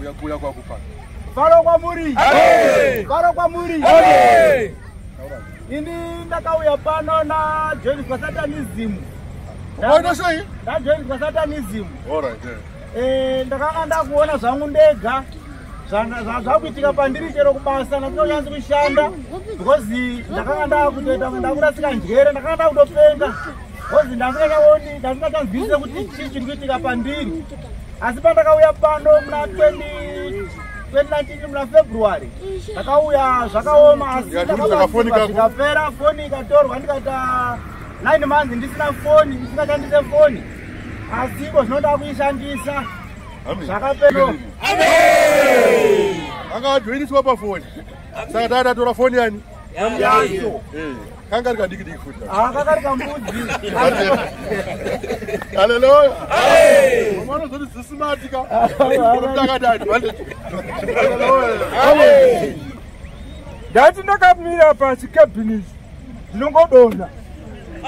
Uya kuya kwa kupa. Varo kwa muri. Amen. Varo kwa muri. Amen. Ini ndakauya pano na join kwa satanism. Unaona sio hii? Na join kwa satanism. All right. Eh, ndakanga ndakuona zvangu ndega. zvakuitika pandiri chero kubasa nakunonyanzi kushanda because ndakanga ndakutoita ndakurasika njere ndakanga ndakutopenga because ndandingachaoni ndandingachanzwisise kuti chii chiri kuitika pandiri asi pandakauya pano muna 2019 muna february ndakauya zvakaoma asi ndakabatsirwaikapera foni ikatorwa ndikaita 9 months ndisina foni ndisingashandise foni asi iko zvinoda kuishandisa zvakapero akajoiniswa pafoni saka taatatora foni yani yacho eh. kanga rikadiki diki futi ah, kanga rikambuzi haleluya mwana zoti zisimati ka takadadi ndati ndakamira pasi cabinet ndinongodonha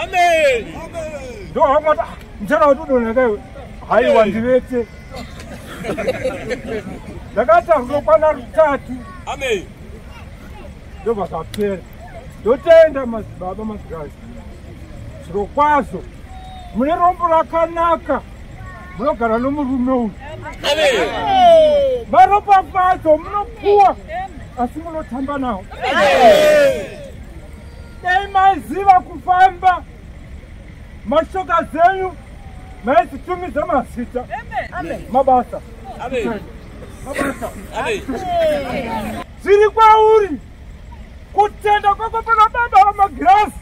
amen ndohamwata ah, mchana watodonha kaiwe haiwa ndivete ndakatazokwana rutatu amen ndobva zvapera ndotenda madzibaba mazikazi zviro kwazvo mune rombo rakanaka munogara nomurume uyu maropafadzo munopuwa asi munotamba nawo dai maiziva kufamba mashoka zenyu maizitumidza mazita mabasa Amen. zviri kwauri kutenda kwako pana baba vamagirasi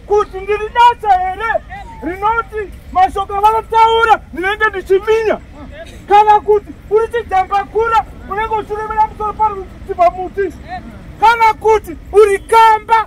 kuti ndiri dacha here rinoti mashoko vanotaura ndinenge ndichiminya kana kuti uri chijambakura unenge uchiremera musoro paruchiva muti kana kuti uri kamba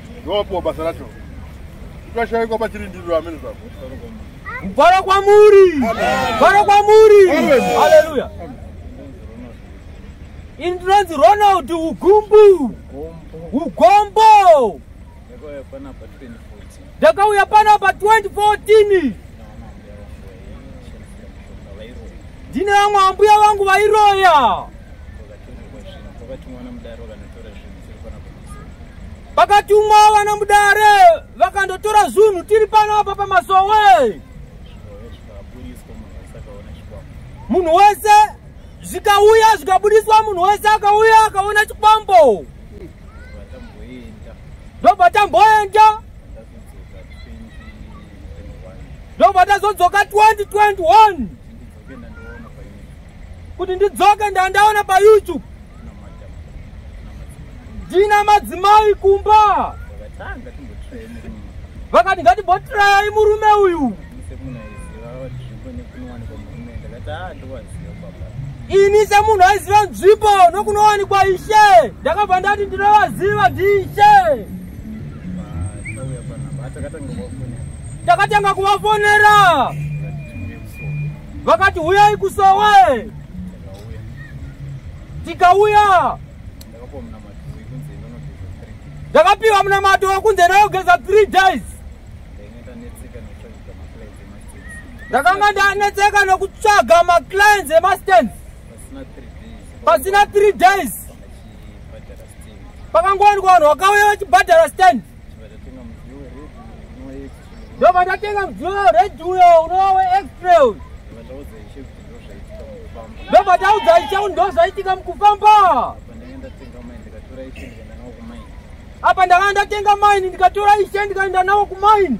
ndopo basa racho tikashaikwa pachirindiriro amene zva kuvhara kwamuri kuvhara kwamuri haleluya ini ndinonzi ronald ugumbu ugombo ndakauya pana pa 2014 ndine vamwe ambuya vangu vairoya vakatumwa vana mudare vakandotora zunhu tiri pano apa pamasowe munhu wese zvikauya zvikabudiswa munhu wese akauya akaona chikwambo ndobva tamboenda ndobva tazodzoka 2021 kuti ndidzoke ndandaona payoutube ndina madzimai kumba vakati ngatibotirayai murume uyu ini semunhu aiziva nzvimbo nokunowanikwa ishe ndakabva ndati ndinovaziva ndiishe takatanga kuvafonera vakati huyai kusowe tikauya ndakapiwa munamato wekunze ndayogeza three days ndakanga ndanetseka nokutsvaga maclients emastance pasina three days pakangowanikwa vanhu vakauya vachibhadhara stand ndobva ndatenga mudziyo weredhi uyo unova weextra uyu ndobva taudza icheu ndo zvaitika mukufamba apa ndakanga ndatenga maini ndikatora ishe ndikaenda navo kumaini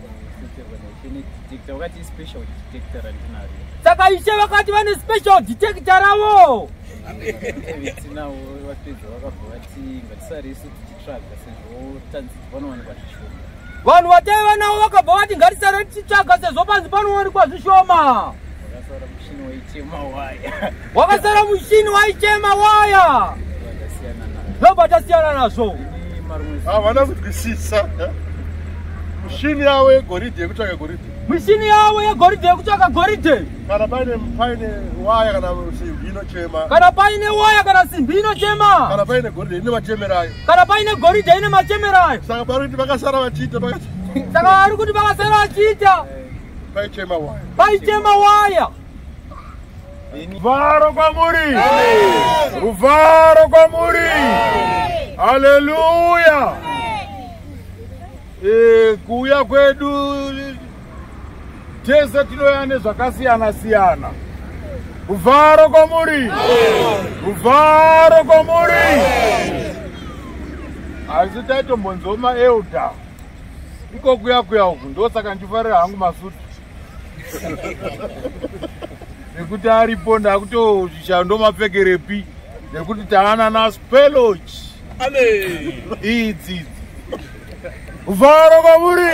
saka ishe vakati vane special detector ravo vanhu vataiva navo vakabva vati ngatisare tichitsvaga sezvo panzi panowanikwa zvishoma wakasara mushini waichema waya ndoba tasiyana nazvo havana kutwisisa mishini yavo yegoridhe yekutsvaka goridhe mishini yavo yegoridhe yekutsvaka goridhe kana paine paine waya kana simbi inochema kana paine waya kana simbi inochema kana paine goridhe ine machemerayo kana paine goridhe ine machemerayo saka pari kuti vakasara vachiita saka vari kuti vakasara vachiita paichema waya paichema waya ruvharo kwamuri ruvharo kwamuri haleluya eh, kuuya kwedu tese tinoya nezvakasiyana siyana ruvharo kwamuri ruvharo kwamuri asi taitombonzoma elda iko kuya kuya uku ndosaka ndifarira hangu masutu nekuti aripo ndakutozvishaya ndomapfekerepi nekuti taana naspeloch idzidzi kuvharo kwamuri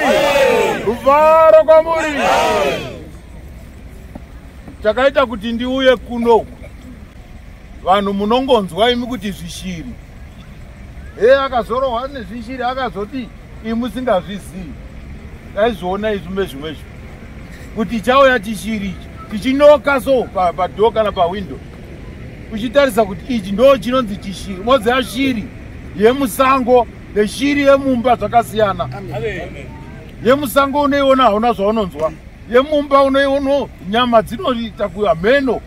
kuvharo kwamuri chakaita kuti ndiuye kunoku vanhu munongonzwa imi kuti zvishiri he akazorohwa nezvishiri akazoti imi musingazvizivi taizviona izvi mezvimwe zvi kuti chauya chishiri ichi tichinoka so padoo kana pawindow uchitarisa kuti ichi ndo chinonzi chishiri moziva shiri yemusango neshiri yemumba zvakasiyana yemusango unoiona hauna zvaunonzwa yemumba unoiono nyama dzinoita kuameno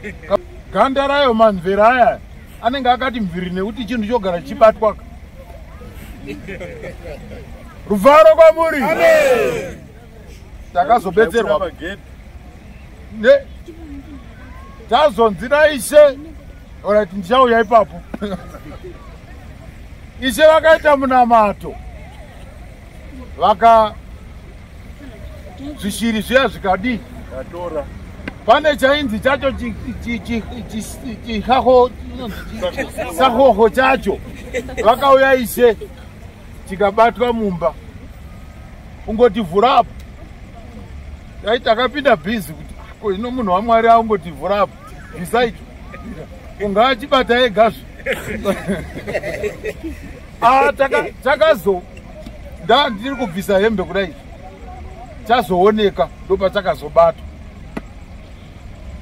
ganda rayo mamvera aya anenge akati mviri nekuti chinhu chogara chichibatwaka ruvaro kwamuri takazobetserwa tazonzi naishe orit ndichauya ipapo ishe vakaita munamato vaka zvishiri zviya zvikadii atora pane chainzi chacho chisahoho chacho vakauya ishe tikabatwa mumba ungotivhura apo dai takapinda bhizi kuti ko ino munhu wamwari aungotivhura apo bvisaicho ungaachibata egazve Ah, takazo nda ndiri kubvisa hembe kudai chazooneka ndopachakazobatwa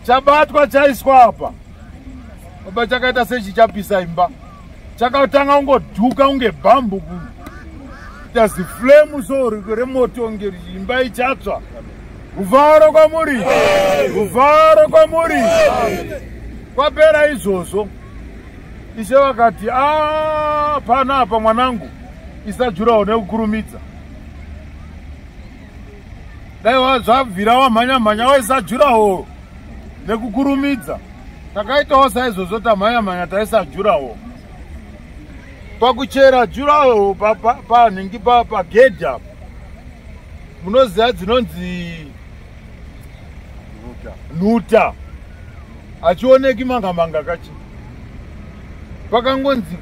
chabatwa chaiswa apa apa chakaita sechichapisa imba chakatanga kungodhuka kunge bhambu kuno kuita ziflemu so remoto nge imba ichatsva kuvharo kwamuri kuvharo kwamuri kwapera izvozvo ishe vakati ah, pana apa mwanangu isa jurawo nekukurumidza dai zvabvira wamhanya mhanya waisa jurawo nekukurumidza takaitawo saizvozvo tamhanya mhanya taisa jurawo pakuchera jurawo panhingi pagedhi apa munoziva dzinonzi nhuta achioneki manga manga kachi pakangonzi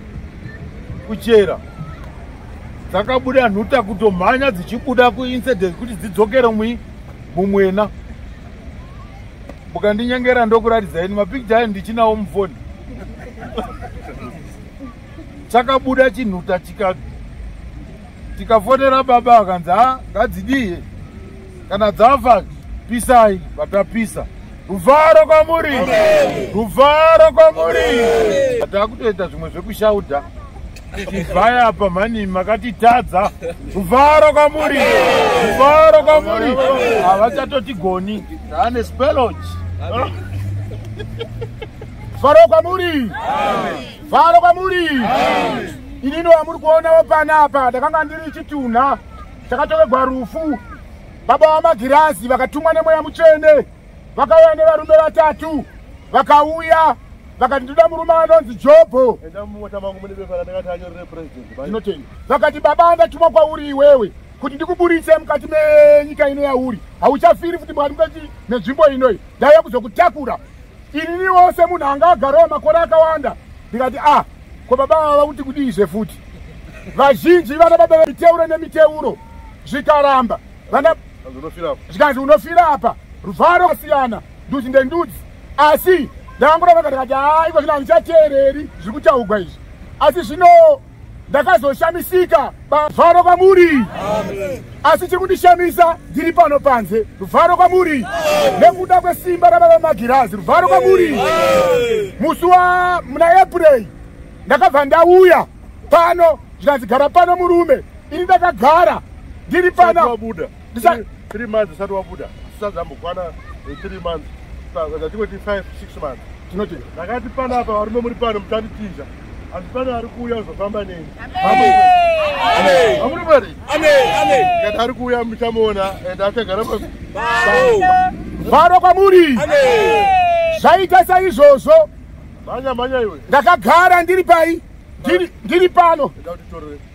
kuchera dzakabuda nhuta kutomhanya dzichibuda kuincident kuti dzidzokere mui mumwena mukandinyengera ndokuratidzai ni mapicture ayo ndichinawo mufoni chakabuda chinhuta chika tikafonera baba akanzi ha ngadzidii kana dzafa pisai vatapisa ruvharo kwamuri ruvharo kwamuri takutoita zvimwe zvekushauda chivhai apa mhani makatitadza ruvharo kwamuri ruvharo kwamuri havachatotigoni ane spelochi faro kwamuri faro kwamuri inini wamuri kuonawo panapa ndakanga ndiri chitunha takatovegwa rufu baba vamagirazi vakatumwa nemweya mutsvene vakauya nevarume vatatu vakauya vakati ndoda murume anonzi jobho vakati baba ndatumwa kwauri iwewe kuti ndikuburitse mukati menyika ino yauri hauchafiri futi mwari mukati nenzvimbo inoi ndaiya kuzokutakura inini wose munhu anga agarawo makore akawanda ndikati a ah, ko baba vava vakuti kudii zve futi vazhinji vana baba vemiteuro nemiteuro zvikaramba vana zvikanzi unofira apa ruvharo kasiyana ndudzi ndendudzi asi ndakangura vakati kati haiko zvino handichateereri zviri kutaugwa izvi asi zvino ndakazoshamisika bavharo kwamuri asi chiri kundishamisa ndiri pano panze ruvharo kwamuri nekuda kwesimba rababa magirazi ruvharo kwamuri musi wa muna april ndakabva ndauya pano zvikanzi gara pano murume ini ndakagara ndiri pano ndisa three months usati wabuda usati zambokwana eh, three months zvatingoti five six months tinoti ndakati pana apa varume muri pano muchanditiza asi pane ari kuuya uzofamba neni amuri mari kati ari kuuya muchamuona and achagara varo kwamuri zvaita saizvozvo mhanya mhanya iwe ndakagara ndiri pai ndiri pano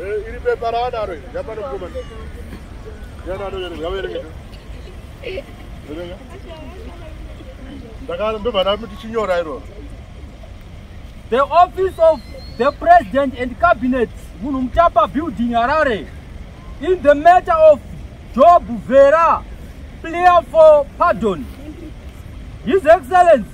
Eh, iri pepa raadaro iri yapano mukoma ndobanamutichinyorai roro the office of the president and cabinet munhu mutapa building harare in the matter of job vera player for pardon his excellence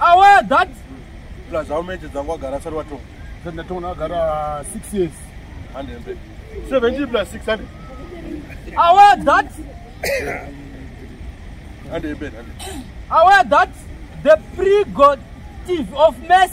aware that plus how many dzangu wagara asati watonga sati ndatonga wagara six years handembe seventeen plus six hundred aware that handembe handembe aware that the pre god tive of mess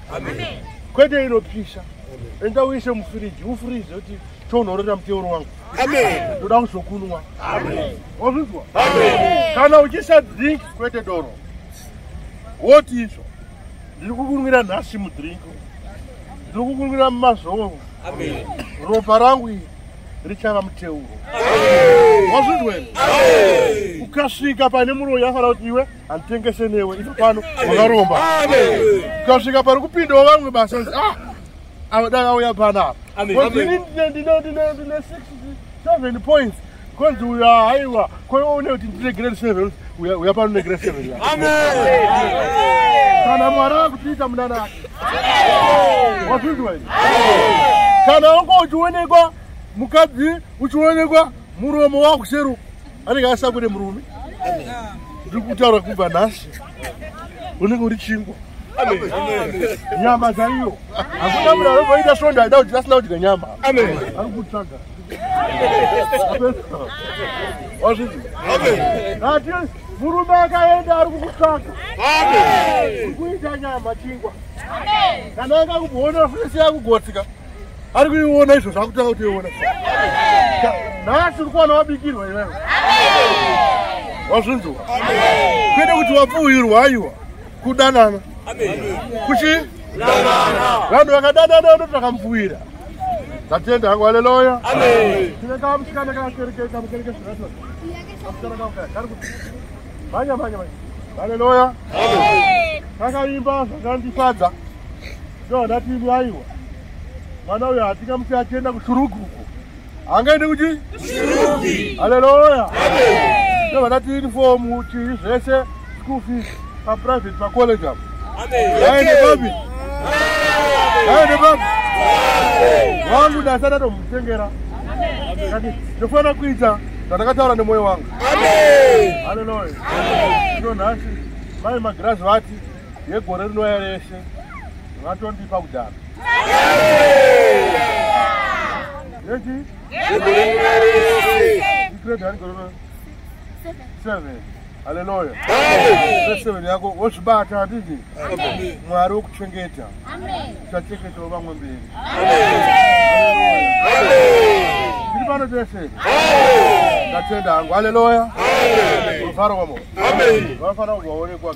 kwete inopisha enda uise mufiriji ufirize kuti tonhorera muteuro wangu ndoda kuzokunwa wazvinzwa kana uchisa drink kwete doro woti izvo ndiri kukunwira nhasi mudrink ndiri kukunwira mumazoro ropa rangu iri richava muteuro wazvinzwa ukasvika pane muroyi afana kuti iwe handitengese newe ipo pano wakaromba ukasvika pari kupindawo vamwe basa ah, ava dai vauya panapa ndine 67 points konzi uyo haiwa koiwe une kuti ndine grade seven uya pano une grade seven kana mwari vakutiita munana ake wazvinzwa izvi kana wanga uchionekwa mukadzi uchionekwa muromo wakuseruka anenge asina kune murume ndiri kutaura kubva nhasi unenge uri chingwa nyama chaiyo hakuna munhu anovaita svondo aida kuti asina kudya nyama ari kutsvaga wazvii ati murume akaenda ari kukutsvaga uri kuita nyama chingwa kana anga kuona fesi yakugotsika ari kuiona izvo zvakutanga kutiona nhasi uri kuwana wabikirwa iwewe wazvinzwa kwete kuti wapfuhirwa aiwa kudanana kuchi vanhu vakadanana ndo takamupfuhira ndatenda hangu haleluya tine kamusikana kakerekekamukereke zvakatoa kamusikana kamukaa kari kuti manya manya manya haleluya kakaimba zvakandifadza Soo ndati imi aiwa mwana uyo hatingamusi achienda kushurugu uko angaende kuti shurugi haleluya soo ndati inifomu chii zvese school fees paprivate pacollege apo aende papi aende papi wangu dasi adatomutengera ndofanira kuita zvatakataura nemwoyo wangu haleluya ino nhasi mai magirazi vati yegore rinouya rese vatondipa kudhara yechi igrade ani gore seven haleluya seven yako wozvibata handiti mwari wokuchengeta uchachengetawo vamwe mberi tiri pano tese ndatenda hangu haleluya vafara kwamo vafana kubva waonekwa